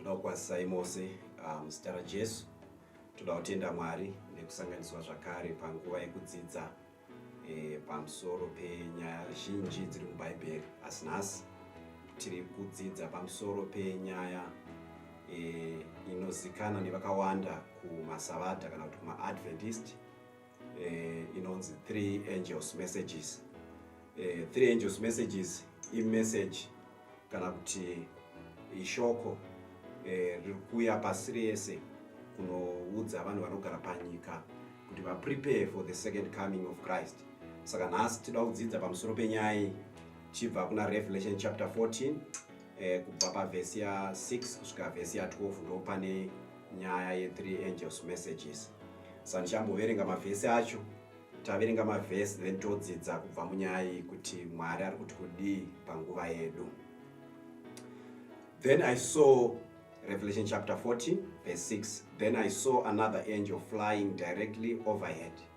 Ndokwazisai mose ah, muzita raJesu. Toda kutenda Mwari nekusanganiswa zvakare panguva yekudzidza eh, pamusoro penyaya zhinji dziri muBhaibheri. Asi nhasi tiri kudzidza pamusoro penyaya eh, inozikanwa nevakawanda kumasavata kana kuti kumaadventist eh, inonzi three angels messages eh, three angels messages imessage kana kuti ishoko eh, riri kuuya pasi rese kunoudza vanhu vanogara panyika kuti vaprepare for the second coming of christ saka nhasi tida kudzidza pamusoro penyaya iyi tichibva kuna revelation chapter 14 eh, kubva pavhesi ya6 kusvika vhesi ya12 ndo pane nyaya ye three angels messages sandichamboverenga mavhesi acho taverenga mavhesi then todzidza kubva munyaya iyi kuti mwari ari kuti kudii panguva yedu then i saw revelation chapter 40 verse 6 then i saw another angel flying directly overhead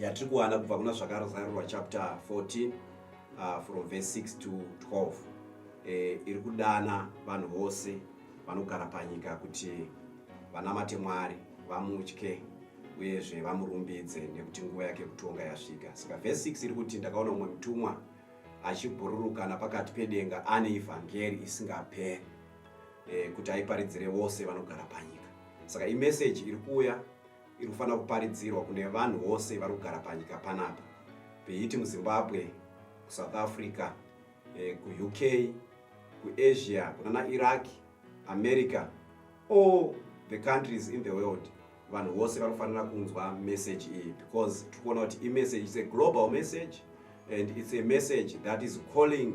yatiri kuwana kubva kuna zvakarozarurwa chapter 14 uh, from verse 6 to 12 eh, iri kudana vanhu vose vanogara panyika kuti vanamate mwari vamutye uyezve vamurumbidze nekuti nguva yake kutonga yasvika saka verse 6 iri kuti ndakaona umwe mutumwa achibhururukana pakati pedenga ane ivhangeri isingaperi eh, kuti aiparidzire vose vanogara panyika saka imeseji iri kuuya iri kufanira kuparidzirwa kune vanhu vose vari kugara panyika panapa beiti muzimbabwe kusouth africa eh, kuuk kuasia kunana iraq america all the countries in the world vanhu vose vari kufanira kunzwa message iyi because tiri kuona kuti imessage its a global message and its a message that is calling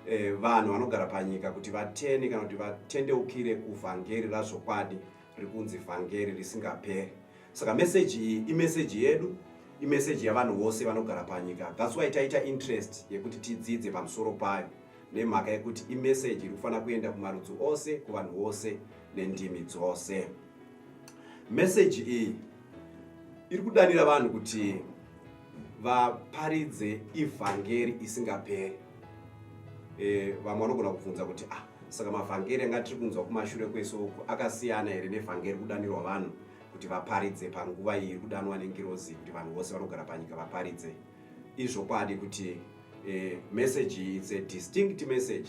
eh, vanhu vanogara panyika kuti vatene kana kuti vatendeukire kuvhangeri razvokwadi riri kunzi vhangeri risingaperi saka meseji iyi imeseji yedu imeseji yavanhu vose vanogara panyika thats why taita interest yekuti tidzidze pamusoro payo nemhaka yekuti imeseji iri kufanira kuenda kumarudzi ose kuvanhu vose nendimi dzose meseji iyi iri kudanira vanhu kuti vaparidze ivhangeri isingaperi e, vamwe vanogona kubvunza kuti ah, saka mavhangeri anga tiri kunzwa kumashure kwese uku akasiyana here nevhangeri kudanirwa vanhu kuti vaparidze panguva iyi iri kudanwa nengirozi kuti vanhu vose vanogara panyika vaparidze izvokwadi kuti e, message iyi its a distinct message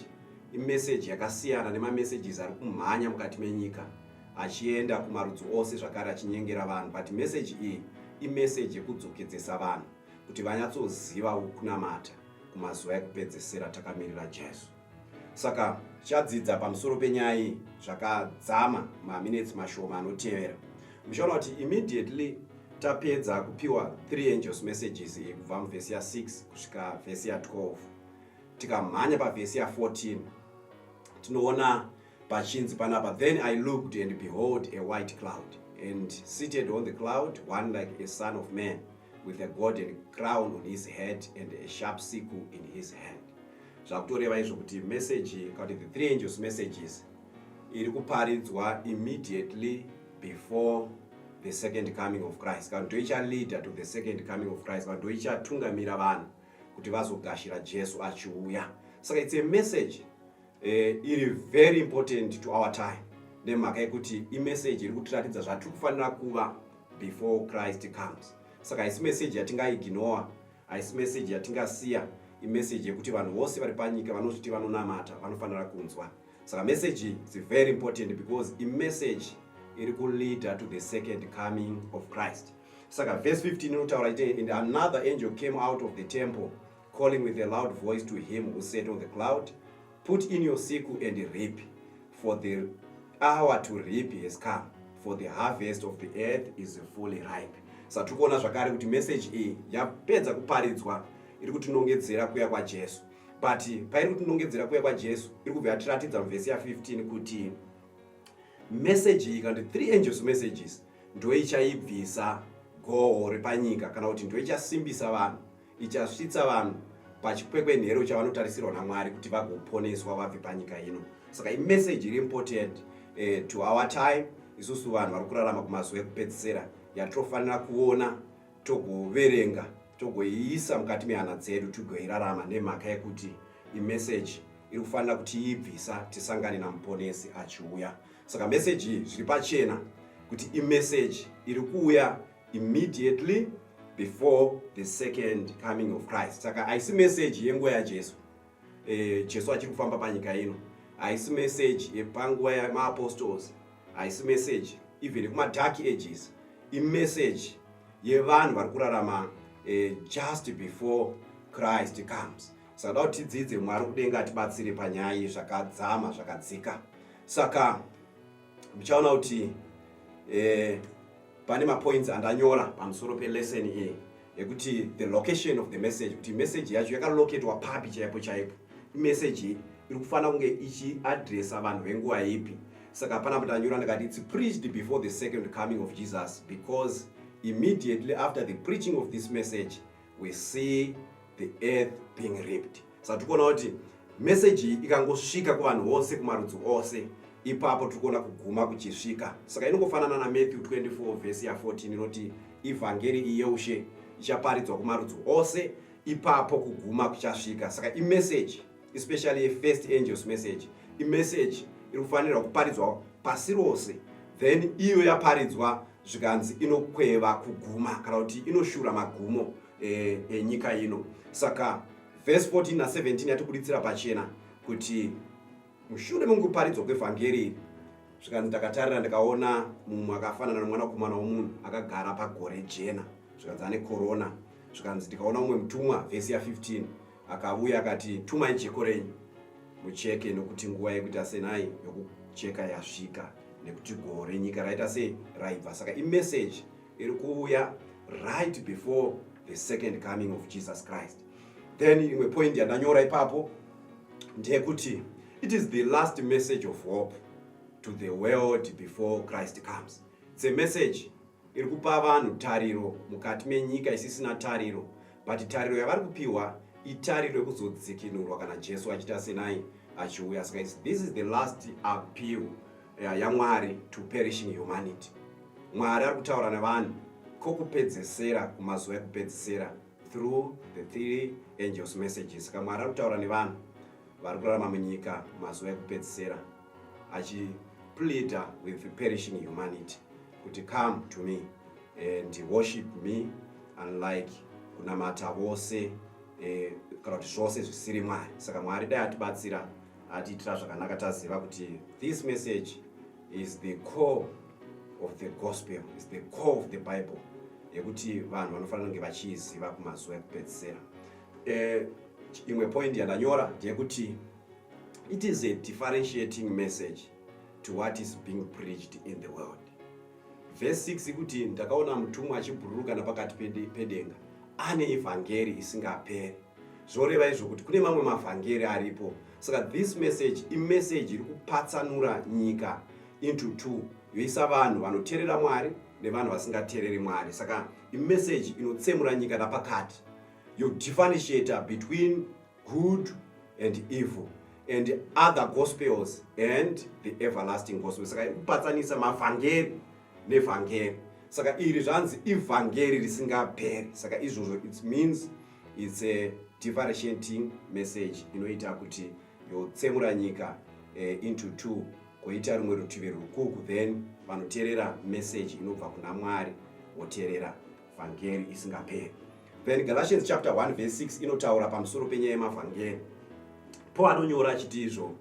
imeseji yakasiyana nemamessages ari kumhanya mukati menyika achienda kumarudzi ose zvakare achinyengera vanhu but meseji iyi imeseji yekudzokedzesa vanhu kuti vanyatsoziva kunamata kumazuva ekupedzesera takamirira jesu saka tichadzidza pamusoro penyaya iyi zvakadzama maminetsi mashoma anotevera muchaona kuti immediately tapedza kupiwa three angels messages iyi kubva muvhesi ya6 kusvika vhesi ya12 tikamhanya pavhesi ya14 tinoona Pachinzi panapa, then I looked and behold a white cloud, and seated on the cloud one like a son of man, with a golden crown on his head and a sharp sickle in his hand. Zvakutoreva izvo kuti message kana kuti the three angels messages iri kuparidzwa immediately before the second coming of Christ. Kana kuti ndoichaleader to the second coming of Christ, kana ndoichatungamira vanhu kuti vazogashira Jesu achiuya. Saka it's a message eh, iri very important to our time nemhaka yekuti imeseji iri kutiratidza zvatiri kufanira kuva before christ comes saka haisi meseji yatingaignora haisi meseji yatingasiya imeseji yekuti vanhu vose vari panyika vanozviti vanonamata vanofanira kunzwa saka meseji is very important because imeseji iri kuleader to the second coming of christ saka verse 15 inotaura ite and another angel came out of the temple calling with a loud voice to him who sat on the cloud put in your siku and reap for the hour to reap has come for the harvest of the earth is fully ripe sa tiri kuona zvakare kuti message iyi yapedza kuparidzwa iri kutinongedzera kuya kwajesu but pairi kutinongedzera kuya kwajesu iri kubva yatiratidza muvhesi ya15 kuti message iyi kana kuti three angels messages ndoichaibvisa goho repanyika kana kuti ndoichasimbisa vanhu ichasvitsa vanhu pachikwekwenhero chavanotarisirwa namwari kuti vagoponeswa vabve panyika ino saka imeseji iri important eh, to our time isusu vanhu vari kurarama kumazuva ekupedzisira yatofanira kuona togoverenga togoiisa mukati mehana dzedu tigoirarama nemhaka yekuti imeseji iri kufanira kutiibvisa tisangane namuponesi achiuya saka meseji iyi zviri pachena kuti imeseji iri kuuya immediately before the second coming of christ saka haisi meseji yenguva yajesu e, jesu achiri kufamba panyika ino haisi meseji yepanguva yemaapostols haisi meseji even yekumadark ages imeseji yevanhu vari kurarama e, just before christ comes saka da kuti tidzidze mwari kudenga atibatsire panyaya iyi zvakadzama zvakadzika saka muchaona kuti eh, pane mapoints andanyora pamusoro pelesson iyi yekuti the location of the message kuti message yacho yakaloketwa papi chaipo chaipo imessage iyi iri kufanira kunge ichiadresa vanhu venguva ipi saka pana patanyura ndikati its preached before the second coming of jesus because immediately after the preaching of this message we see the earth being ripped saka tikuona kuti meseji iyi ikangosvika kuvanhu vose kumarudzi ose ipapo tiri kuona kuguma kuchisvika saka inongofanana namatthew 24 vhesi ya 14 inoti ivhangeri iyi yeushe ichaparidzwa kumarudzi ose ipapo kuguma kuchasvika saka imeseji especially yefirst angels message imeseji iri kufanirwa kuparidzwa pasi rose then iyo yaparidzwa zvikanzi inokweva kuguma kana kuti inoshura magumo eh, enyika e, ino saka vhesi 14 na17 yatibuditsira pachena kuti mushure mekuparidzwa kwevhangeri iri zvikanzi ndakatarira ndikaona mumwe akafanana nomwanakomana womunhu akagara pagore jena zvikanzi ane korona zvikanzi ndikaona mumwe mutumwa vhesi ya15 Akavuya akati, tumai jeko renyu mucheke nokuti nguva yekuita senai yokucheka yasvika nekuti goho renyika raita sei raibva. Saka imeseji iri kuvuya right before the second coming of Jesus Christ. Then imwe point yandanyora ipapo ndeyekuti it is the last message of hope to the world before Christ comes. It's a message iri kupa vanhu tariro mukati menyika isisina tariro but tariro yavari kupiwa itariro yekuzodzikinurwa kana jesu achiita senai achiuya saka this is the last appeal eh, yamwari ya to perishing humanity mwari ari kutaura nevanhu kokupedzesera kumazuva ekupedzesera through the three angels messages saka mwari ari kutaura nevanhu vari kurarama munyika mazuva ekupedzisira achi pleader with the perishing humanity kuti come to me and worship me unlike kunamata vose eh, kana kuti zvose zvisiri mwari saka mwari dai atibatsira atiitira zvakanaka taziva kuti this message is the core of the gospel is the core of the bible yekuti vanhu vanofanira kunge vachiiziva kumazuva ekupedzisera eh, imwe point yandanyora ndeyekuti It is a differentiating message to what is being preached in the world. Verse 6 ikuti ndakaona mutumwa achibhururuka napakati pedenga ane evhangeri isingaperi zvoreva izvo kuti kune mamwe mavhangeri aripo saka this message imessage iri kupatsanura nyika into two yoisa vanhu vanoterera mwari nevanhu vasingatereri mwari saka imessage inotsemura nyika napakati yodifferentiator between Good and Evil and Other Gospels and the Everlasting Gospel. Saka kupatsanisa mavhangeri nevhangeri. Saka iri zvanzi ivhangeri risingaperi. Saka izvozvo it means it's a differentiating message inoita kuti yotsemura nyika eh, into two koita rumwe rutivi rwukuku then vanoteerera message inobva kuna Mwari woteerera vhangeri isingaperi then galatians chapter 1 verse 6 inotaura pamusoro penyaya yemavhangeri paul anonyora achiti izvo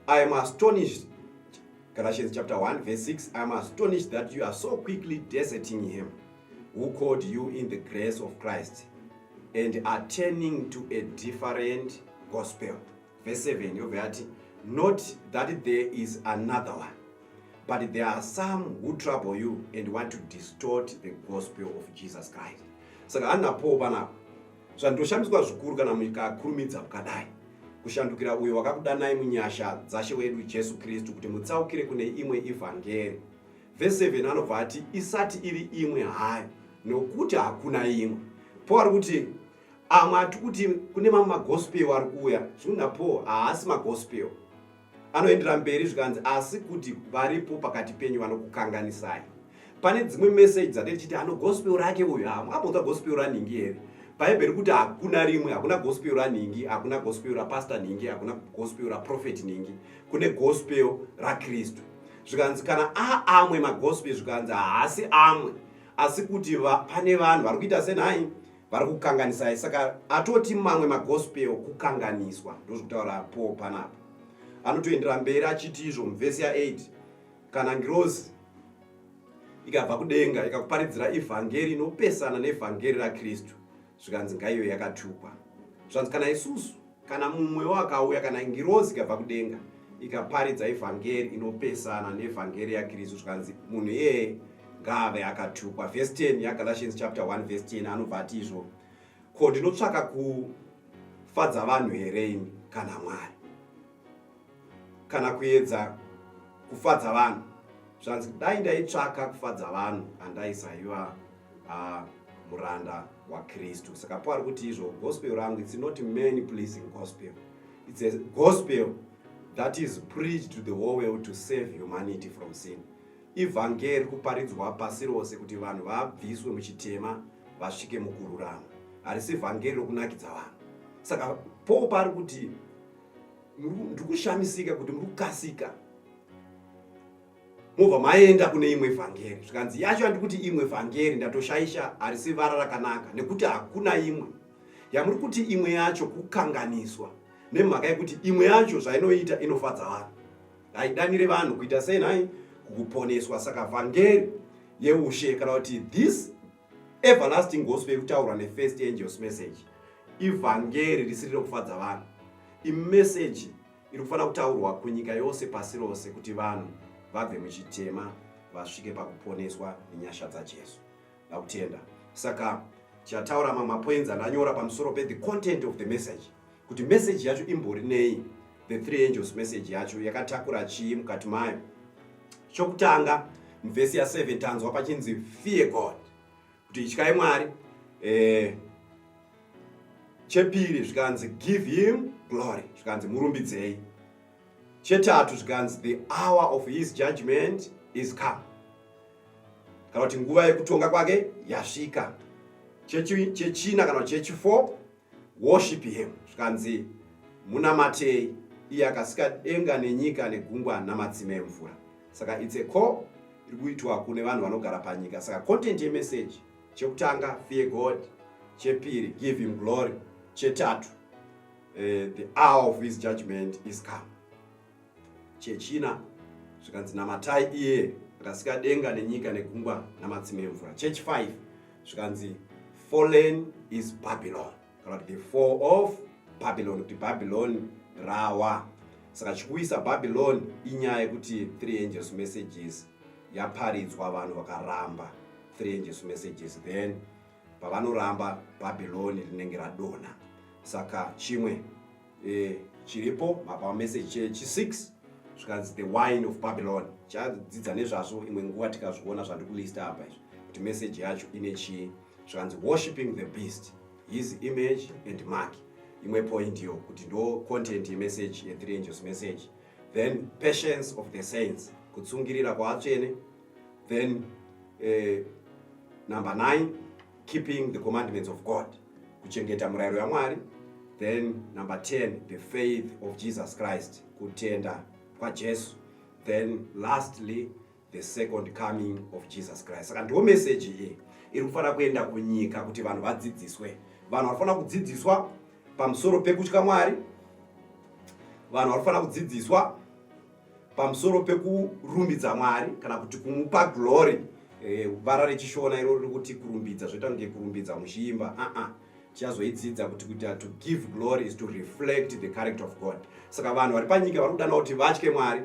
i am astonished galatians chapter 1 verse 6 i am astonished that you are so quickly deserting him who called you in the grace of christ and are turning to a different gospel Verse 7 yobva yati not that there is another one but there are some who trouble you and want to distort the gospel of Jesus Christ. Saka hanapo panapo zvandoshamiswa zvikuru kana mukakurumidza kukadai kushandukira uyo wakakudanai munyasha dzashe wedu Jesu Kristu kuti mutsaukire kune imwe evhangeri. Verse 7 anobva ati isati iri imwe hayo nokuti hakuna imwe. Paul kuti amwe ati kuti kune mamwe magospel ari kuuya zviunapo haasi magospel anoendera mberi zvikanzi asi kuti varipo pakati penyu vanokukanganisai pane dzimwe meseji dzatei tichiti ano gospel rake uyu hamwambonzwa gospel ranhingi here bhaibheri kuti hakuna rimwe hakuna gospel ranhingi hakuna gospel rapasta nhingi hakuna gospel raprofeti nhingi kune gospel rakristu zvikanzi kana aamwe magospel zvikanzi haasi amwe asi kuti va, pane vanhu vari kuita senhai vari kukanganisai saka atoti mamwe magospel kukanganiswa ndozvekutaura paul panapa anotoendera mberi achiti izvo muvhesi ya8 kana ngirozi ikabva kudenga ikakuparidzira evhangeri inopesana neevhangeri rakristu zvikanzi ngaiyo yakatukwa zvanzi kana isusu Kana mumwewo akauya, kana ngirozi ikabva kudenga ikaparidza evhangeri inopesana nevhangeri yaKristu, zvikanzi munhu iyeye ngaave akatukwa. Vhesi 10 yaGalatians chapter 1 vhesi 10 anobva ati izvo, ko ndinotsvaka kufadza vanhu here ini kana Mwari? kana kuedza kufadza vanhu zvanzi dai ndaitsvaka kufadza vanhu andaisaiva uh, muranda wakristu saka po ari kuti izvo gospel rangu its not many pleasing gospel its a gospel that is preached to the whole world to save humanity from sin ivhangeri kuparidzwa pasi rose kuti vanhu vabviswe muchitema vasvike mukururama harisi vhangeri rokunakidza vanhu saka po paari kuti Ndiri kushamisika kuti muri kukasika mobva maenda kune imwe vhangeri zvikanzi yacho handi kuti imwe vhangeri ndatoshaisha harisi vara rakanaka nekuti hakuna imwe yamuri kuti imwe yacho kukanganiswa nemhaka yekuti imwe yacho zvainoita inofadza vanhu haidanire vanhu kuita sei nhai kukuponeswa saka vhangeri yeushe kana kuti this everlasting gospel yekutaurwa nefirst angels message ivhangeri risiri rekufadza vanhu imeseji iri kufanira kutaurwa kunyika yose pasi rose kuti vanhu vabve muchitema vasvike pakuponeswa nenyasha dzajesu ndakutenda saka chataura mamwe mapoinzi andanyora pamusoro pethe content of the message kuti meseji yacho imbori nei the three angels meseji yacho yakatakura chii mukati mayo chokutanga muvhesi ya7 tanzwa pachinzi fear god kuti ityai mwari eh, chepiri zvikanzi give him glory zvikanzi murumbidzei chetatu zvikanzi the hour of his judgment is come kana kuti nguva yekutonga kwake yasvika chechina kana kuti chechi4 Worship him, zvikanzi munamatei iye akasika denga nenyika negungwa namatsime emvura. Saka it's a call iri kuitwa kune vanhu vanogara panyika. Saka content yemeseji, chekutanga fear God, chepiri give him glory, chetatu uh, the hour of his judgment is come. Chechina zvikanzi namatai iye akasika denga nenyika negungwa namatsime emvura. Chechi 5 zvikanzi fallen is Babylon kana kuti the fall of Babylon kuti Babylon rawa. Saka chikuisa Babylon inyaya yekuti three angels messages yaparidzwa vanhu vakaramba three angels messages then pavanoramba Babylon rinenge radona saka chimwe eh, chiripo mapa message chechi 6 zvikanzi the wine of babylon chadzidza nezvazvo imwe nguva tikazviona zvandikulista apa izvi kuti message yacho ine chii zvikanzi worshipping the beast his image and mark imwe point yo kuti ndo content yemessage yethree angels message then patience of the saints kutsungirira kwaatsvene then eh, number nine keeping the commandments of god kuchengeta murayiro yamwari then number 10 the faith of jesus christ kutenda kwajesu then lastly the second coming of jesus christ saka ndiwo meseji iyi iri kufanira kuenda kunyika kuti vanhu vadzidziswe vanhu vanofanira kudzidziswa pamusoro pekutya mwari vanhu vanofanira kudzidziswa pamusoro pekurumbidza mwari kana kuti kumupa glory eh, vara rechishona iro riri kuti kurumbidza zvoita kunge kurumbidza muchiimba aa uh -uh tichazoidzidza kuti kuita to give glory is to reflect the character of god saka vanhu vari panyika vari kudana kuti vatye mwari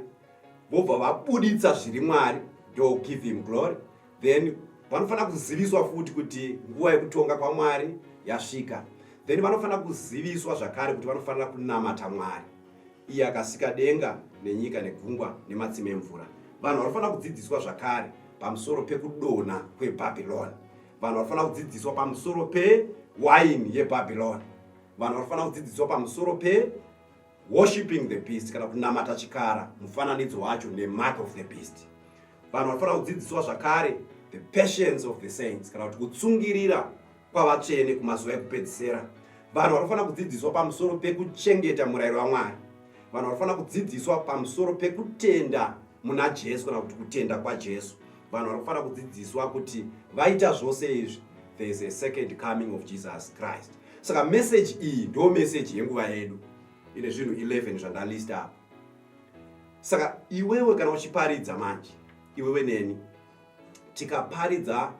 vobva vabuditsa zviri mwari do give him glory then vanofanira kuziviswa futi kuti nguva yekutonga kwamwari yasvika then vanofanira kuziviswa zvakare kuti vanofanira kunamata mwari iye akasika denga nenyika negungwa nematsime emvura vanhu vanofanira kudzidziswa zvakare pamusoro pekudonha kwebhabhironi vanhu vanofanira kudzidziswa pamusoro pewaini yebhabhironi vanhu vanofanira kudzidziswa pamusoro pe worshipping the beast kana kunamata chikara mufananidzo wacho nemark of the beast vanhu vanofanira kudzidziswa zvakare the patience of the saints kana kuti kutsungirira kwavatsvene kumazuva ekupedzisera vanhu vanofanira kudzidziswa pamusoro pekuchengeta murayiro wamwari vanhu vanofanira kudzidziswa pamusoro pekutenda muna jesu kana kuti kutenda kwajesu vanhu vanofanira kudzidziswa kuti vaita zvose izvi there is a second coming of jesus christ saka meseji iyi ndo meseji yenguva yedu ine zvinhu 11 zvandalista apa saka iwewe kana uchiparidza manje iwewe neni tikaparidza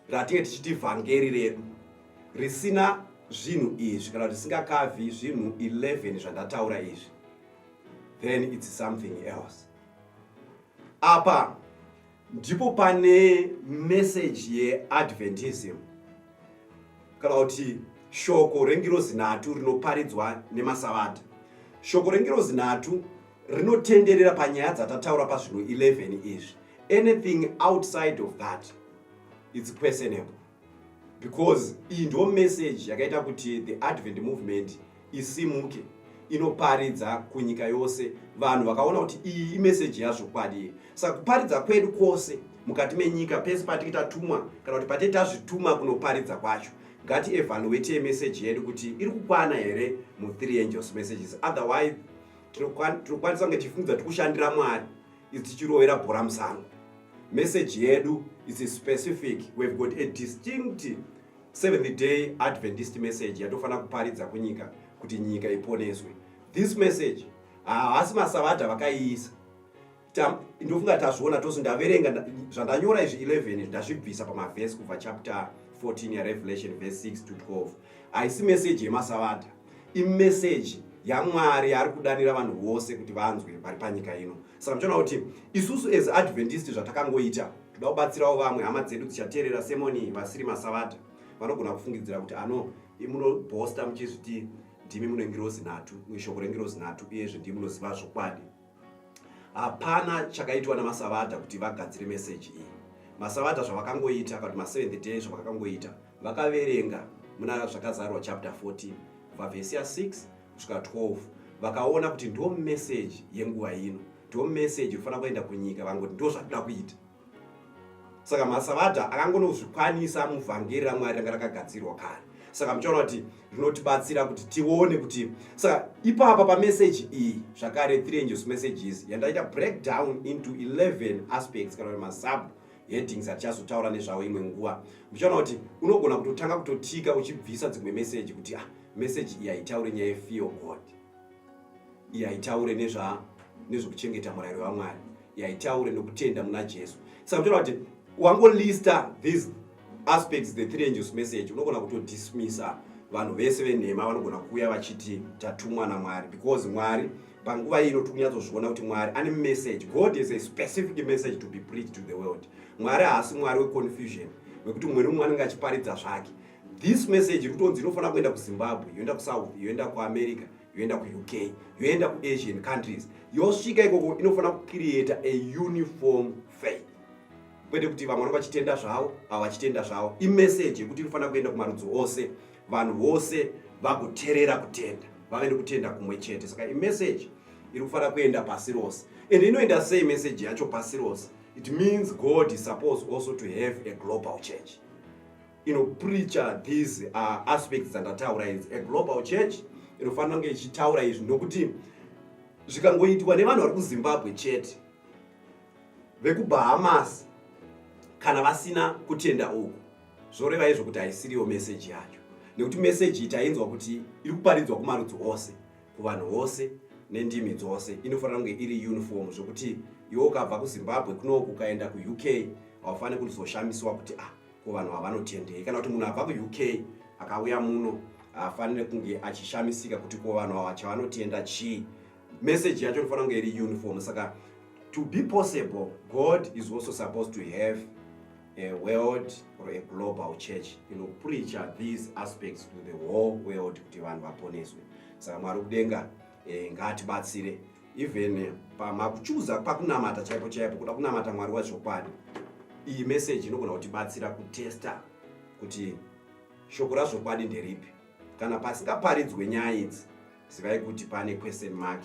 ratinge tichiti vhangeri redu risina zvinhu izvi kana zvisingakavhi zvinhu 11 zvandataura izvi then its something else apa ndipo pane meseji yeadventism kana kuti shoko rengirozi nhatu rinoparidzwa nemasavata shoko rengirozi nhatu rinotenderera panyaya dzatataura pazvinhu 11 izvi anything outside of that its questionable because iyi ndo message yakaita kuti the advent movement isimuke inoparidza kunyika yose vanhu vakaona kuti iyi imeseji yazvokwadi saka kuparidza kwedu kwose mukati menyika pese patinge tatumwa kana kuti patinge tazvituma kunoparidza kwacho ngati evaluate meseji yedu kuti iri kukwana here mu3 angels messages otherwise tinokwanisa kunge tichifungiza tikushandira mwari is tichirovera bhora musango message yedu is specific we've got a distinct seventh day adventist message yatofanira kuparidza kunyika kuti nyika iponeswe this message haasi masavadha vakaiisa ndofunga tazviona tose ndaverenga zvandanyora izvi 11 ndazvibvisa pamavhesi kubva chapter 14 yarevelation verse 6 to 12 haisi message yemasavadha imeseji yamwari yaari kudanira vanhu vose kuti vanzwe vari panyika ino saka muchiona kuti isusu as adventist zvatakangoita toda kubatsirawo vamwe hama dzedu dzichateerera semoni vasiri masavata vanogona kufungidzira kuti ano imunobhosta muchizviti ndimi munengirozi nhatu shoko rengirozi nhatu uyezve ndii munoziva zvokwadi hapana chakaitwa namasavadha kuti vagadzire meseji iyi masavadha zvavakangoita kana kuti maseventh day zvavakakangoita vakaverenga muna zvakazarwa chapter 14 kubva vhesi ya 6 kusvika 12 vakaona kuti ndo meseji yenguva ino ndo meseji inofanira kuenda kunyika vangoti ndo zvatida kuita saka masavadha akangonozvikwanisa muvhangeri ramwari ranga rakagadzirwa kare saka muchaona kuti rinotibatsira kuti tione kuti saka ipapa pameseji iyi zvakare three angels messages yandaita breakdown into 11 aspects kana kuti masub headings atichazotaura nezvavo imwe nguva muchaona kuti unogona kutotanga kutotika uchibvisa dzimwe meseji kuti ah meseji iyi haitaure nyaya yefear god iye haitaure nezva nezvokuchengeta murayiro wamwari yaitaure nokutenda muna jesu saka kutora kuti wangolista these aspects the three angels message unogona kutodismisa vanhu vese venhema vanogona kuuya vachiti tatumwa namwari because mwari panguva ino tiri kunyatsozviona kuti mwari ane message god is a specific message to be preached to the world mwari haasi mwari weconfusion wekuti mumwe nemumwe anenge achiparidza zvake This message iri kutonzi inofanira kuenda kuZimbabwe, yoenda kuSouth, yoenda kuAmerica, yoenda kuUK, yoenda kuAsian countries. Yosvika ikoko inofanira kucreata a uniform faith. Kwete kuti vamwe vanenge vachitenda zvavo, ava vachitenda zvavo. Imessage yekuti inofanira kuenda kumarudzi ose, vanhu vose vagoterera kutenda, vave nekutenda kumwe chete. Saka imessage iri kufanira kuenda pasi rose. And inoenda sei message yacho pasi rose? It means God is supposed also to have a global church. inopreacher these uh, aspects dzandataura idzi a global church inofanira kunge ichitaura izvi nokuti zvikangoitwa nevanhu vari kuzimbabwe chete vekubahamas kana vasina kutenda uku zvoreva izvo kuti haisiriyo meseji yacho nekuti meseji iyi tainzwa kuti iri kuparidzwa kumarudzi ose kuvanhu vose nendimi dzose inofanira kunge iri uniform zvokuti iwe ukabva kuzimbabwe kunoku ukaenda kuuk haufaniri kuzoshamiswa kuti ah ko vanhu vavanotendei kana kuti munhu abva kuuk akauya muno afanire kunge achishamisika kuti ko vanhu ava chavanotenda chii message yacho inofanira kunge iri uniform saka to be possible god is also supposed to have a world or a global church inopreacha these aspects to the whole world kuti vanhu vaponeswe saka mwari kudenga eh, ngaatibatsire even eh, pamakuchuza pakunamata chaipo chaipo kuda kunamata mwari wazvokwadi iyi meseji inogona kutibatsira kutesta kuti shoko razvokwadi nderipi kana pasingaparidzwe nyaya idzi zivai kuti pane question mark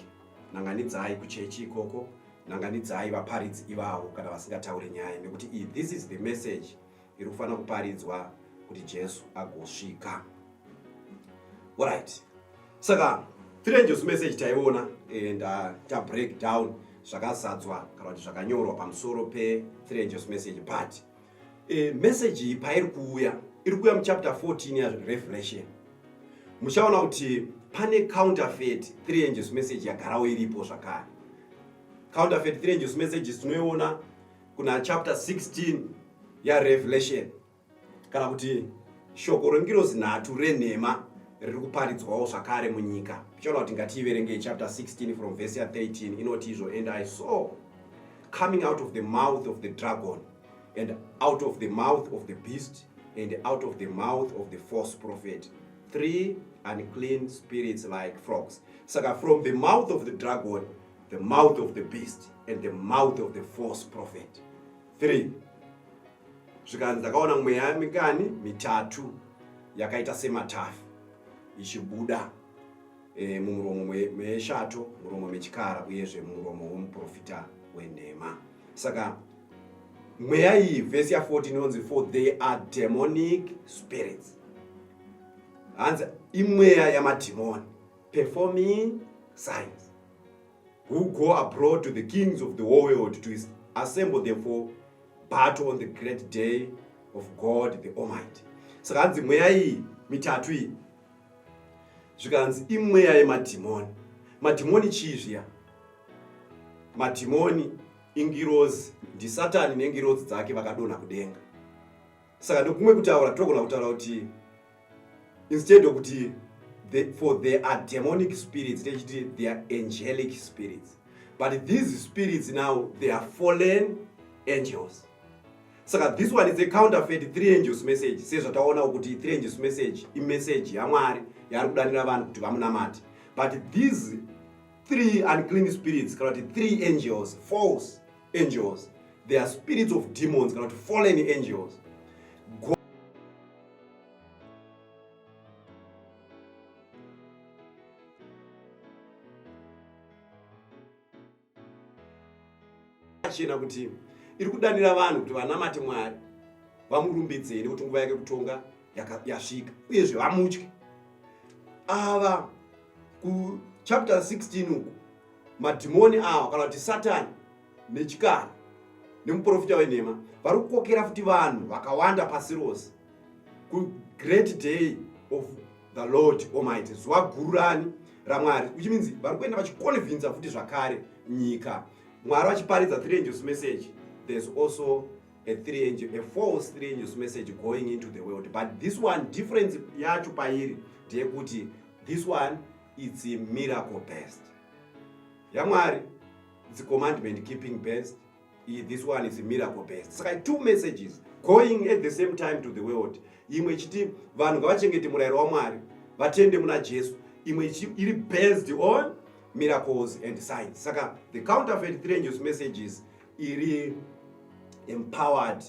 nanganidzai kuchechi ikoko nanganidzai vaparidzi ivavo kana vasingataure nyaya nekuti this is the message iri kufanira kuparidzwa kuti jesu agosvika orit saka three angels message taiona and uh, ta break down zvakazadzwa kana kuti zvakanyorwa pamusoro pe three angels message but e, message iyi pairi kuuya iri kuuya muchapter 14 yarevelation muchaona kuti pane counterfeit three angels message yagarawo iripo zvakare counterfeit three angels messages tinoiona kuna chapter 16 yarevelation kana kuti shoko rengirozi nhatu renhema riri kuparidzwawo zvakare munyika tichaona kuti ngatiiverengei chapter 16 from verse ya 13 inoti izvo and i saw coming out of the mouth of the dragon and out of the mouth of the beast and out of the mouth of the false prophet three unclean spirits like frogs saka from the mouth of the dragon the mouth of the beast and the mouth of the false prophet 3 zvikanzi ndakaona mweya mikani mitatu yakaita sematafu ichibuda e, mumuromo meshato muromo mechikara uyezve mumuromo womuprofita wenhema saka mweya iyi vhesi ya14 inonzi for they are demonic spirits hanzi imweya yamadhimoni performing signs who go abroad to the kings of the world to assemble them for battle on the great day of God the Almighty. Saka hanzi mweya iyi mitatu iyi zvikanzi imweya yemadhimoni. Madhimoni chii zviya? Madhimoni ingirozi, ndiSatani nengirozi dzake vakadonha kudenga. Saka ndokumwe kutaura togona kutaura kuti instead of kuti the, for there are demonic spirits techiti they are angelic spirits but these spirits now they are fallen angels saka this one is a counterfeit three angels message sezvataona kuti three angels message imessage yamwari yaari kudanira vanhu kuti vamunamati but these three unclean spirits kana kuti three angels false angels they are spirits of demons kana kuti fallen angels zvakachena kuti iri kudanira vanhu kuti vanamate mwari vamurumbidzei nekuti nguva yake kutonga yasvika uyezve vamutye ava kuchapter 16 uku madhimoni awa kana kuti satani nechikara nemuprofita wenhema vari kukokera futi vanhu vakawanda pasi rose kugreat day of the lord almighty zuva guru rani ramwari which means vari kuenda vachiconvinsa futi zvakare nyika mwari vachiparidza three angels message there's also a three angel, a false three angels message going into the world but this one difference yacho pairi ndeyekuti this one it's a miracle best yamwari yeah, It's commandment keeping based. This one is miracle based. Saka two messages going at the same time to the world. Imwe ichiti vanhu ngavachengete murayiro waMwari, vatende muna Jesu. Imwe iri based on miracles and signs. Saka the counterfeit three news messages iri empowered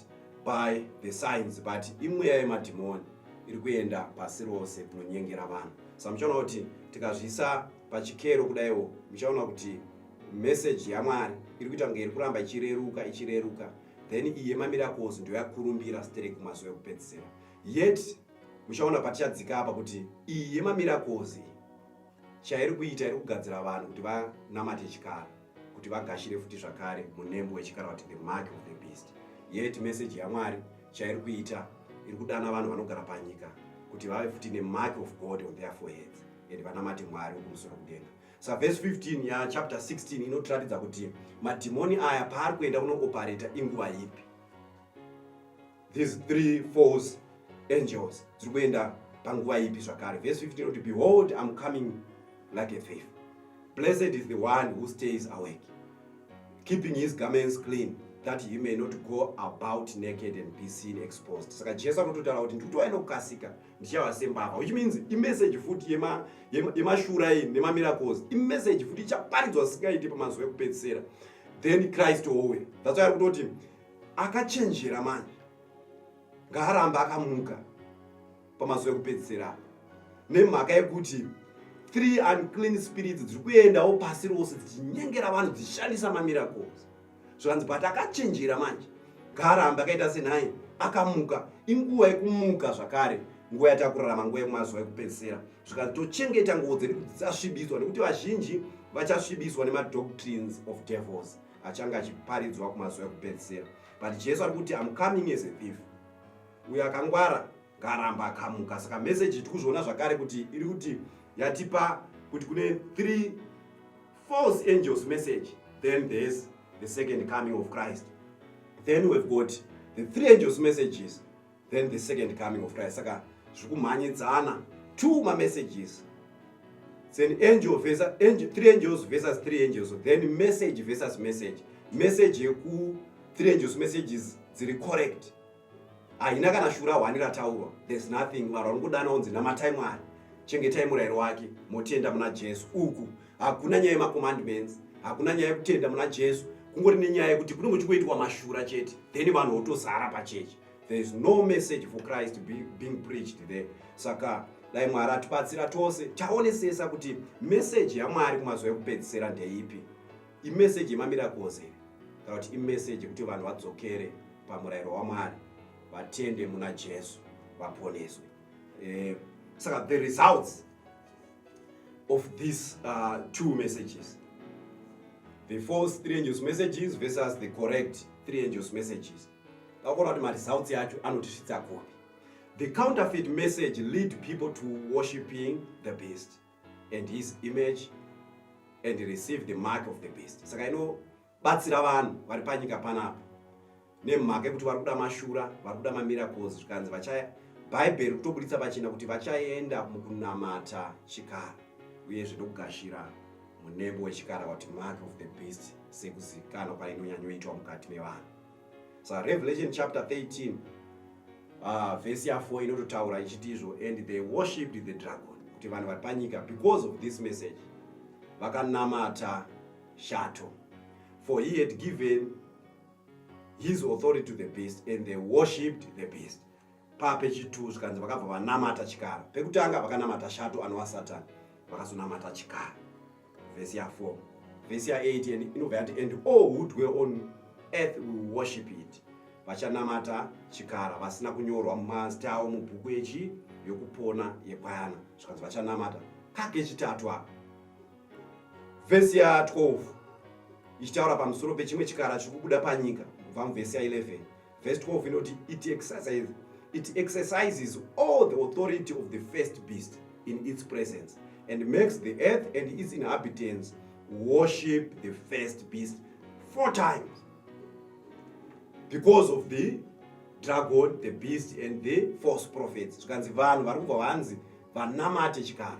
by the signs but imweya yemadhimoni iri kuenda pasi rose kunonyengera vanhu. Samuchaona kuti tikazvisa pachikero kudaiwo muchaona kuti message yamwari iri kuita kunge iri kuramba ichireruka ichireruka then iyi yemamiracles ndiyo yakurumbira stere kumazuva ekupedzisira yet muchaona patichadzika apa kuti iyi yemamiracles iyi chairi kuita iri kugadzira vanhu kuti vanamate chikara kuti vagashire futi zvakare munembo wechikara kuti the mark of the beast yet message yamwari chairi kuita iri kudana vanhu vanogara panyika kuti vave futi nemark of god on their foreheads and vanamate mwari wekumusoro kudenga sa verse 15 ya chapter 16 inotiratidza kuti madhimoni aya paari kuenda kunoopareta inguva ipi these three false angels dziri kuenda panguva ipi zvakare verse 15 inoti behold im coming like a thief blessed is the one who stays awake keeping his garments clean that he may not go about naked and be seen exposed saka jesu anototaura kuti ndikuti wainokukasika ndichava sembavha which means imessage futi yemashura yema, yema nemamiracles imessage futi ichaparidzwa zvisingaite pamazuva ekupedzisera then christ owe that's why ari kutoti akachenjera manje ngaaramba akamuka pamazuva ekupedzisera apa nemhaka yekuti three unclean spirits dziri kuendawo pasi rose dzichinyengera vanhu dzichishandisa mamiracles zvikanzi but akachinjira manje ngaaramba akaita senhai akamuka inguva yekumuka zvakare nguva yatakurarama nguva yemazuva ekupedzisira zvikanzi tochengeta nguvo dzedu kuti dzisasvibiswa nekuti vazhinji vachasvibiswa nemadoctrines of devils achange achiparidzwa kumazuva ekupedzisira but jesu ari kuti am coming as a thief uyo akangwara ngaramba akamuka saka meseji tiri kuzviona zvakare kuti iri kuti yatipa kuti kune three false angels message then there's the second coming of christ then we've got the three angels messages then the second coming of christ saka zviri kumhanyidzana two mamessages then angel versus, angel, three angels versus three angels then message versus message message yeku three angels messages dziri correct haina kana shura hwani rataurwa there's nothing vanhu vari kudana onzi namatai mwari chengetai murayiro wake motenda muna jesu uku hakuna nyaya yemacommandments hakuna nyaya yekutenda muna jesu kungori nenyaya yekuti kunenge uchingoitwa mashura chete then vanhu votozara pachechi there is no message for christ being preached there saka dai mwari atibatsira tose taonesesa kuti meseji yamwari kumazuva ekupedzisira ndeipi imeseji yemamirakozi kana kuti imeseji yekuti vanhu vadzokere pamurayiro wamwari vatende muna jesu vaponeswe eh, saka the results of these uh, two messages the false three angels messages versus the correct three angels messages vakuona kuti maresults yacho anotisvitsa kupi the counterfeit message lead people to worshiping the beast and his image and receive the mark of the beast saka ino batsira vanhu vari panyika panapa nemhaka yekuti vari kuda mashura vari kuda mamiracles zvikanzi vachaya bhaibheri kutobuditsa pachena kuti vachaenda mukunamata chikara uyezve ndokugashira munembo wechikara wati mark of the beast sekuzivikanwa kwainonyanyoitwa mukati mevanhu sa revelation chapter 13 uh, ah, vhesi ya4 inototaura ichiti izvo and they worshipped the dragon kuti vanhu vari panyika because of this message vakanamata shato for he had given his authority to the beast and they worshipped the beast pape chitu zvikanzi vakabva vanamata chikara pekutanga vakanamata shato anova satani vakazonamata chikara vhesi ya 4 vhesi ya 8 inobva yati and all who dwell on earth will worship it vachanamata chikara vasina kunyorwa mumazita avo mubhuku yechi yokupona yekwayana zvikanzi vachanamata kake chitatu apa vhesi ya 12 ichitaura pamusoro pechimwe chikara chiri kubuda panyika kubva muvhesi ya 11 vhesi 12 inoti it exercises, it exercises all the authority of the first beast in its presence and makes the earth and its inhabitants worship the first beast four times because of the dragon the beast and the false prophets zvikanzi vanhu vari kubva vanzi vanamate chikara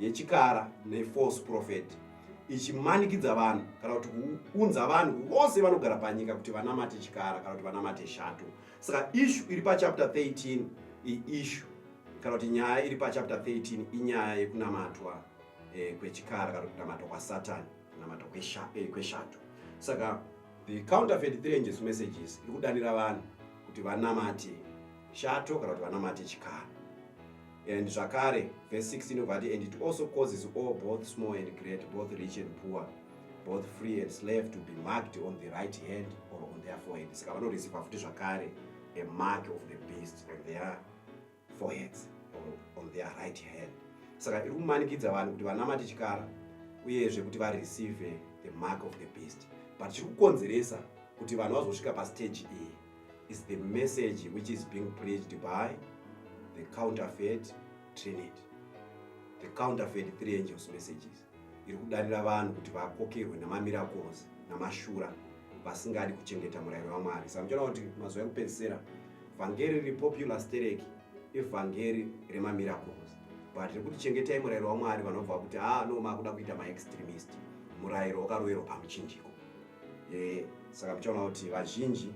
yechikara nefalse prophet ichimanikidza vanhu kana kuti kuunza vanhu vose vanogara panyika kuti vanamate chikara kana kuti vanamate shato saka ishu iri pachapter 13 iishu kana kuti nyaya iri pachapter 13 inyaya yekunamatwa eh, kwechikara kana kuti kunamatwa kwasatani kunamatwa eh, kweshato saka the counterfeit three angels messages iri kudanira vanhu kuti vanamate shato kana kuti vanamate chikara And zvakare, verse 16 inobva ati, And it also causes all, both small and great, both rich and poor, both free and slave, to be marked on the right hand or on their forehead. Saka vanoreceiva futi zvakare a mark of the beast on their foreheads or on their right hand. Saka iri kumanikidza vanhu kuti vanamate chikara uyezve kuti vareceive the mark of the beast. But chiri kukonzeresa kuti vanhu vazosvika pastage iyi is the message which is being preached by the counterfeit trinity the counterfeit three angels messages iri kudarira vanhu kuti vakokerwe namamiracles namashura vasingadi kuchengeta murayiro wamwari saka muchiona kuti mazuva ekupedzisira vhangeri repopular stereki evhangeri remamiracles but rekuti chengetai murayiro wamwari vanobva kuti haa ah, no makuda kuita maextremist murayiro wakaroverwa pamuchinjiko e, saka muchaona kuti vazhinji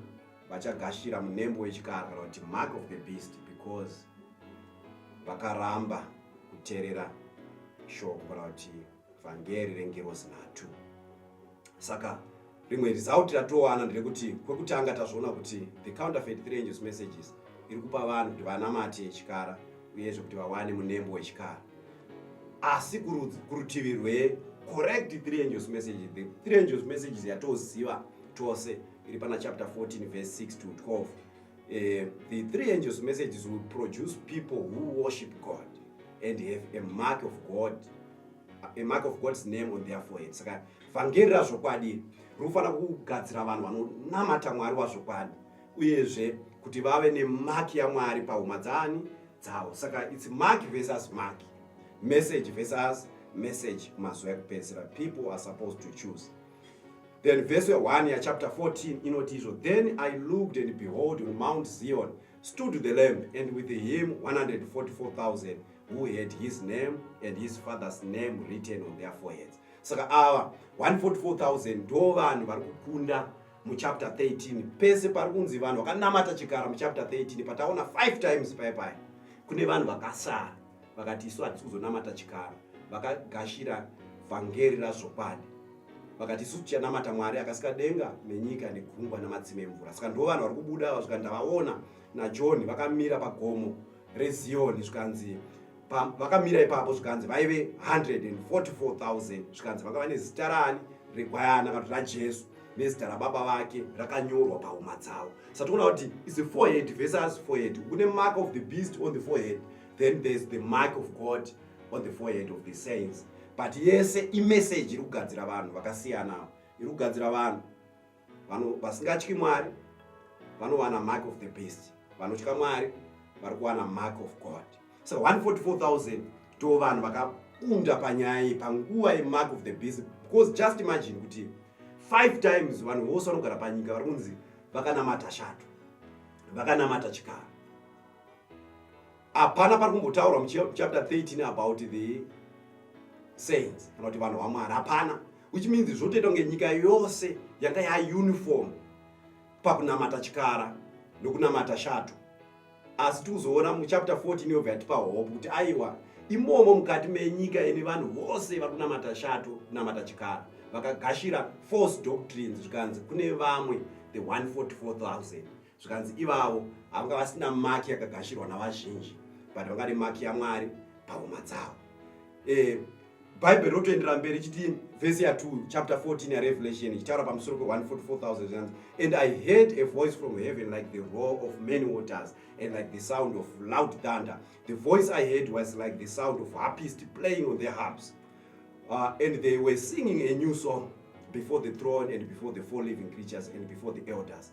vachagashira munembo wechikara kana kuti mark of the beast because vakaramba kuterera shoko kana kuti vhangeri rengirozi nhatu saka rimwe result ratowana nderekuti kwekutanga tazviona kuti the counterfeit three angels messages iri kupa vanhu kuti vanamate chikara uyezve kuti vawane munembo wechikara asi kurutivi rwe correct three angels message the three angels messages yatoziva tose iri pana chapter 14 verse 6 to 12 eh, the three angels messages will produce people who worship god and have a mark of god a mark of god's name on their forehead saka vhangeri razvokwadi rinofanira kugadzira vanhu vanonamata mwari wazvokwadi uyezve kuti vave nemaki yamwari pahuma dzaani dzavo saka its maki versus maki message versus message mazuva ekupedzisira people are supposed to choose then verse 1 yachapter 14 inoti izvo then i looked and behold on mount zion stood the lamb and with him 144000 who had his name and his father's name written on their foreheads saka ava 144000 ndo vanhu vari kukunda muchapter 13 pese pari kunzi vanhu vakanamata chikara muchapter 13 pataona 5 times paye paye kune vanhu vakasara vakati isu hatisi kuzonamata chikara vakagashira vhangeri razvokwadi vakati isu tichanamata mwari akasika denga nenyika negungwa namatsime emvura saka ndo vanhu vari kubuda ava zvikandavaona najohn vakamira pagomo reziyoni zvikanzi vakamira ipapo zvikanzi vaive 144000 zvikanzi vakava nezita rani regwayana kana kuti rajesu nezita rababa vake rakanyorwa pahuma dzavo satoona kuti is a forehead versus forehead kune mark of the beast on the forehead then there's the mark of god on the forehead of the saints but yese imessage iri kugadzira vanhu vakasiyana iri kugadzira vanhu vano vasingatyi mwari vanowana mark of the beast vanotya mwari vari kuwana mark of god so 144000 to vanhu vakakunda panyaya iyi panguva yemark of the beast because just imagine kuti five times vanhu vose vanogara panyika vari kunzi vakanamata shato vakanamata chikara hapana pari kumbotaurwa muchapter 13 about the saints kana kuti vanhu vamwari hapana which means zvotoita kunge nyika yose yanga yauniform pakunamata chikara nokunamata shato asi tikuzoona muchapter 14 yobva yatipa hope kuti aiwa imomo mukati menyika ine vanhu vose vari kunamata shato kunamata chikara vakagashira false doctrines zvikanzi kune vamwe the 144000 zvikanzi ivavo havanga vasina maki yakagashirwa navazhinji but vanga ne maki yamwari pahuma dzavo e, bhaibheri rotoendera mberi chiti vhesi ya 2 chapter 14 yarevelation ichitaura pamusoro pe144000 and i heard a voice from heaven like the roar of many waters and like the sound of loud thunder the voice i heard was like the sound of harpist playing on their harps uh, and they were singing a new song before the throne and before the four living creatures and before the elders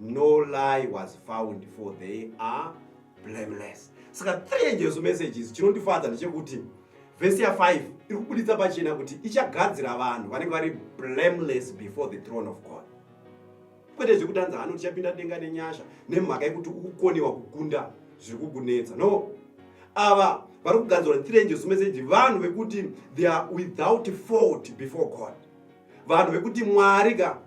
no lie was found for they are blameless saka three angels messages chinondifadza ndechekuti vhesi ya5 iri kubuditsa pachena kuti ichagadzira vanhu vanenge vari blameless before the throne of god kwete zvekutanza hano tichapinda denga nenyasha nemhaka yekuti ukukoniwa kukunda zviri kukunetsa no ava vari kugadzirwa nethre angels message vanhu vekuti they are without fault before god vanhu vekuti mwari ka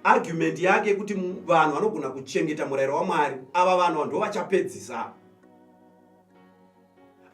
argument yake kuti vanhu vanogona kuchengeta murayiro wamwari ava vanhu ndo vachapedzisa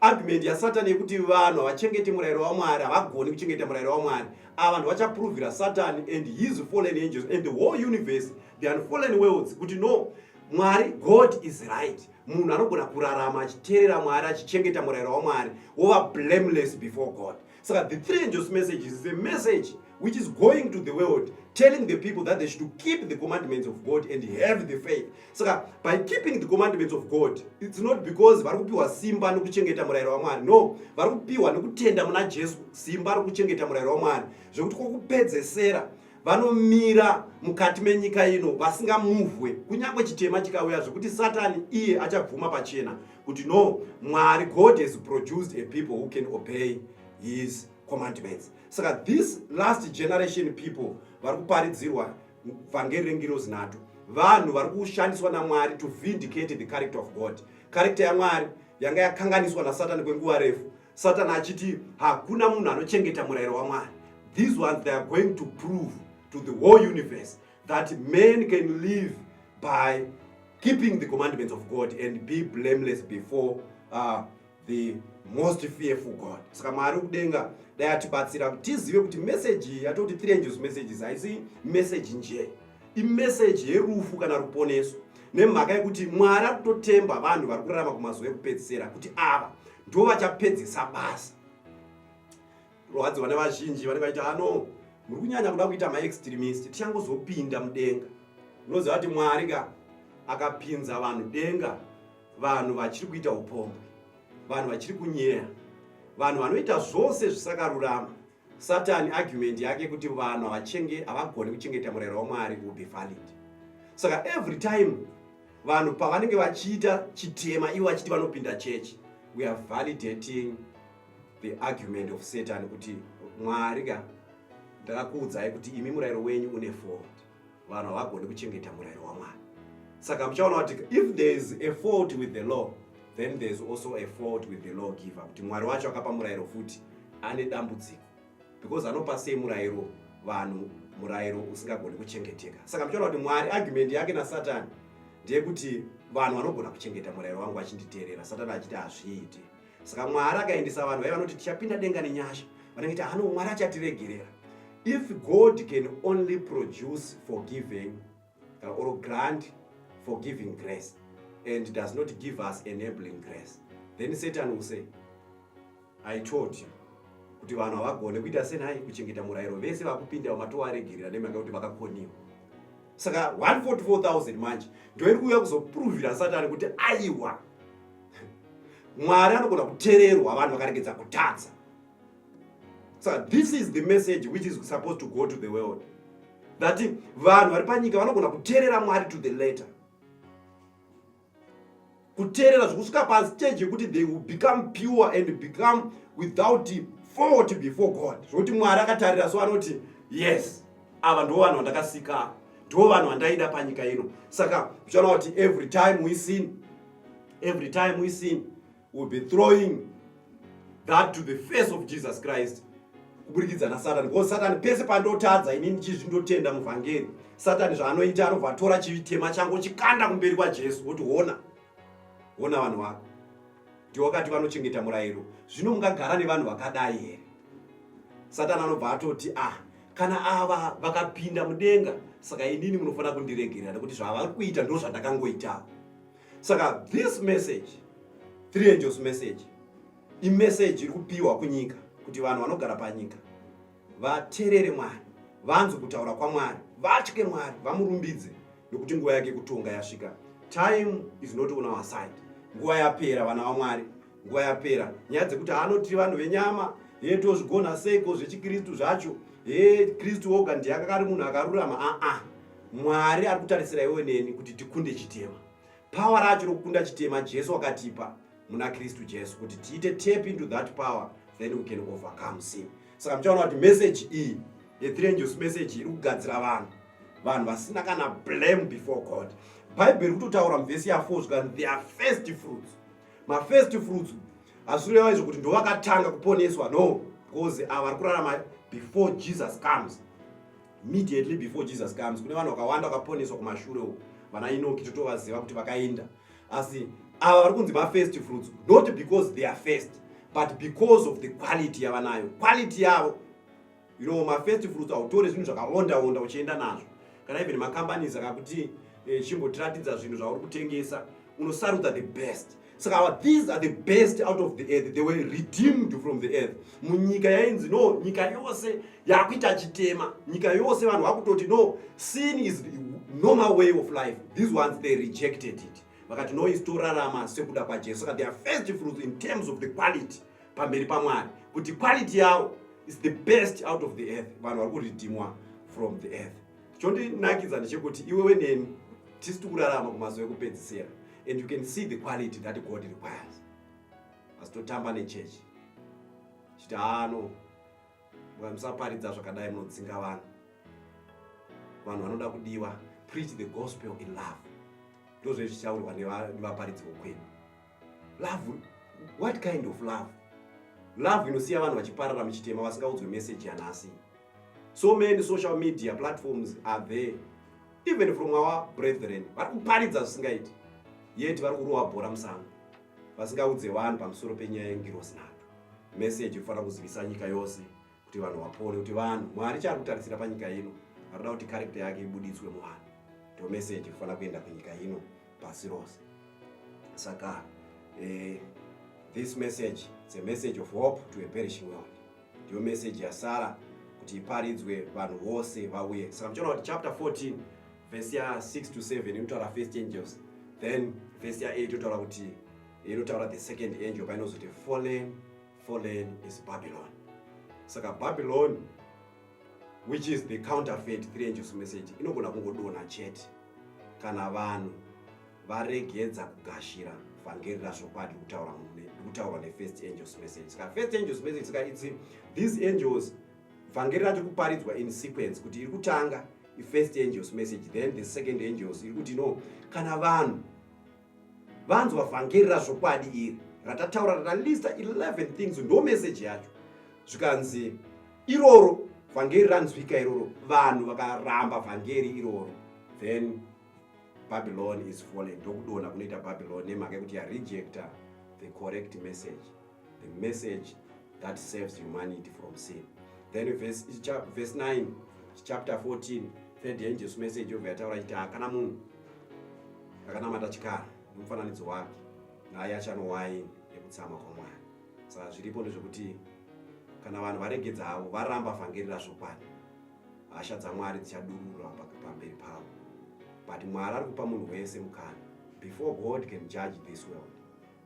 argument yasatani yekuti vanhu havachengeti murayiro wamwari havagoni kuchengeta murayiro wamwari ava vanhu vachaprovira satani and his fallen angels and the whole universe the unfallen worlds kuti no mwari god is right munhu anogona kurarama achiteerera mwari achichengeta murayiro wamwari wova blameless before god Saka the three angels message is a message which is going to the world telling the people that they should keep the commandments of God and have the faith. Saka by keeping the commandments of God it's not because vari kupiwa simba nokuchengeta murayiro waMwari. No, vari kupiwa nokutenda muna Jesu simba rokuchengeta murayiro waMwari zvekuti kwokupedzesera vanomira mukati menyika ino vasingamuvwe kunyange chitema chikauya zvekuti satani iye achabvuma pachena kuti no mwari god has produced a people who can obey his commandments saka this last generation people vari kuparidzirwa vhangeri rengirozi nato vanhu vari kushandiswa namwari to vindicate the character of god character yamwari yanga yakanganiswa nasatani kwenguva refu satani achiti hakuna munhu anochengeta murayiro wamwari these ones they are going to prove to the whole universe that man can live by keeping the commandments of God and be blameless before uh, the most fearful God. Saka Mwari kudenga dai atibatsira kuti tizive kuti message iyi yatoti three angels messages haisi message nje imessage yerufu kana ruponeso nemhaka yekuti Mwari ari kutotemba vanhu vari kurarama kumazuva ekupedzisira kuti ava ndo vachapedzesa basa rwadziwa nevazhinji vanenge vaita ano muri kunyanya kuda kuita maextremist tichangozopinda mudenga unoziva kuti mwari ka akapinza vanhu denga vanhu vachiri kuita upombwe vanhu vachiri kunyeya vanhu vanoita zvose zvisakarurama satani argument yake kuti vanhu havachenge havagoni kuchengeta murayiro wamwari will be valid saka every time vanhu pavanenge vachiita chitema ivo vachiti vanopinda chechi we are validating the argument of satan kuti mwari ka ndakakuudzai kuti imi murayiro wenyu une fault vanhu havagoni kuchengeta murayiro wamwari saka muchaona kuti if there is a fault with the law then there is also a fault with the law giver kuti mwari wacho akapa murayiro futi ane dambudziko because anopa sei murayiro vanhu murayiro usingagoni kuchengeteka saka muchaona kuti mwari argument yake nasatani ndeyekuti vanhu vanogona kuchengeta murayiro wangu vachinditeerera satani achiti hazviiti saka mwari akaendesa vanhu vaiva vanoti tichapinda denga nenyasha vanenge ti hano mwari achatiregerera if god can only produce forgiving uh, or grant forgiving grace and does not give us enabling grace then satan will say i told you kuti vanhu havagone kuita senai kuchengeta murayiro vese vakupinda vamatovaregerera nemhaka yekuti vakakoniwa saka 144000 manje ndoiri kuuya kuzopuruvhira satani kuti aiwa mwari anogona kutererwa vanhu vakaregedza kutadza saka this is the message which is supposed to go to the world that vanhu vari panyika vanogona kuterera mwari to the letter kuterera zvekusvika pastage yekuti they will become pure and become without fault before god zvokuti mwari akatarira so anoti yes ava ndo vanhu vandakasika ndo vanhu vandaida panyika ino saka zvichana kuti every time we sin Every time we sin, we'll be throwing that to the face of Jesus Christ kuburikidza nasatani because satani pese pandotadza inini chizvi ndotenda muvhangeri satani zvaanoita anobva atora chitema changu chikanda kumberi kwajesu woti hona hona vanhu vako ndiwakati vanochengeta murayiro zvino mungagara nevanhu vakadai here satani anobva atoti ah kana ava vakapinda mudenga saka inini munofanira kundiregerera nekuti zvavari kuita ndo zvandakangoitawo saka this message three angels message imeseji iri kupiwa kunyika kuti vanhu vanogara panyika vaterere mwari vanzwe kutaura kwamwari vatye mwari vamurumbidze nokuti nguva yake kutonga yasvika time is not on our side nguva yapera vana vamwari nguva yapera nyaya dzekuti haano tiri vanhu venyama hee tozvigona seiko zvechikristu zvacho hee kristu woga ndiye akakari munhu akarurama aa mwari ari kutarisira iwe neni kuti tikunde chitema pawa racho rokukunda chitema jesu wakatipa muna kristu jesu kuti tiite tap into that power then we can overcome sin saka muchaona kuti message iyi yethrangels message iri kugadzira vanhu vanhu vasina kana blame before god bhaibheri kutotaura muvhesi ya4 zvikanzi their first fruits mafirst fruits hazvireva izvo kuti ndovakatanga kuponeswa no because ava vari kurarama before jesus comes immediately before jesus comes kune vanhu vakawanda vakaponeswa kumashure uku vana inoki totovaziva kuti vakaenda asi ava vari kunzi mafirst fruits not because they are first but because of the quality yavanayo quality yavo you know ma first fruits hautore zvinhu zvakawonda wonda uchienda nazvo kana even macompanies akakuti eh, chimbotiratidza zvinhu zvauri kutengesa unosarudza the best saka so these are the best out of the earth they were redeemed from the earth munyika yainzi no nyika yose yakuita chitema nyika yose vanhu vakutoti no sin is normal way of life these ones they rejected it vakati no is torarama sekuda kwajesu saka their first fruits in terms of the quality pamberi pamwari kuti quality yawo is the best out of the earth vanhu vari kuridhimwa from the earth chondinakidza ndechekuti iwewe neni tisi tikurarama kumazuva ekupedzisira and you can see the quality that god requires asi totamba nechechi chiti haano musaparidza zvakadai munodzinga vanhu vanhu vanoda kudiwa preach the gospel in love ndozvezvichaurwa nevaparidzi vokwenu Love? What kind of love? Love inosiya vanhu vachiparara muchitema vasingaudzwe message yanhasi. So many social media platforms are there. Even from our brethren, vari kuparidza zvisingaiti. Yet vari kurova bhora musango. Vasingaudze vanhu pamusoro penyaya yengirosi nhatu. Message inofanira kuzivisa nyika yose. kuti vanhu vapone kuti vanhu mwari chaari kutarisira panyika ino arikuda kuti karekta yake ibuditswe muvanhu ndo meseji kufanira kuenda kunyika ino pasi rose saka eh, this message its a message of hope to a perishing world ndiyo meseji yasara kuti iparidzwe vanhu vose vauye saka muchiona kuti chapter 14 vhesi ya 6 to 7 inotaura first angels then vhesi ya 8 inotaura kuti inotaura the second angel painozoti fallen Fallen is Babylon. Saka Babylon which is the counterfeit three angels message inogona kungodonha chete kana vanhu varegedza kugashira vhangeri razvokwadi kutaurwa nefirst angels message saka first angels message saka itsi these angels vhangeri rati kuparidzwa in sequence kuti iri kutanga ifirst angels message then the second angels iri kuti no kana vanhu vanzwa vhangeri razvokwadi iri ratataura ralista 11 things ndo meseji yacho zvikanzi iroro vhangeri ranzwika iroro vanhu vakaramba vhangeri iroro then babylon is fallen ndokudona kunoita babylon nemhaka yekuti yarejecta the correct message the message that saves humanity from sin then verse, verse 9 chapter 14 third angels message yobva yataura chiti hakana munhu akanamata chikara nemufananidzo wake naye achano waini yekutsama kwamwari saka zviripo ndezvekuti kana vanhu varegedza avo varamba vhangeri razvokwadi hasha dzamwari dzichadurura pamberi pavo but mwari ari kupa munhu wese mukana before god can judge this world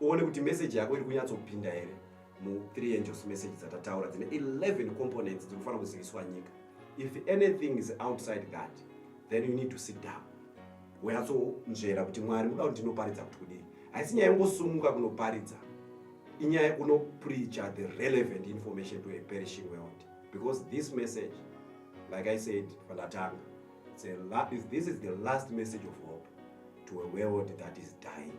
uone kuti message yako iri kunyatsopinda here mu three angels message dzatataura dzine 11 components dziri kufanira kuziviswa nyika if anything is outside that then you need to sit down wonyatsonzvera kuti mwari muda kuti ndinoparidza kuti kudii haisi nyaya yongosumuka kunoparidza inyaya yekunopreacha the relevant information to a perishing world because this message like i said pandatanga this is the last message of hope to a world that is dying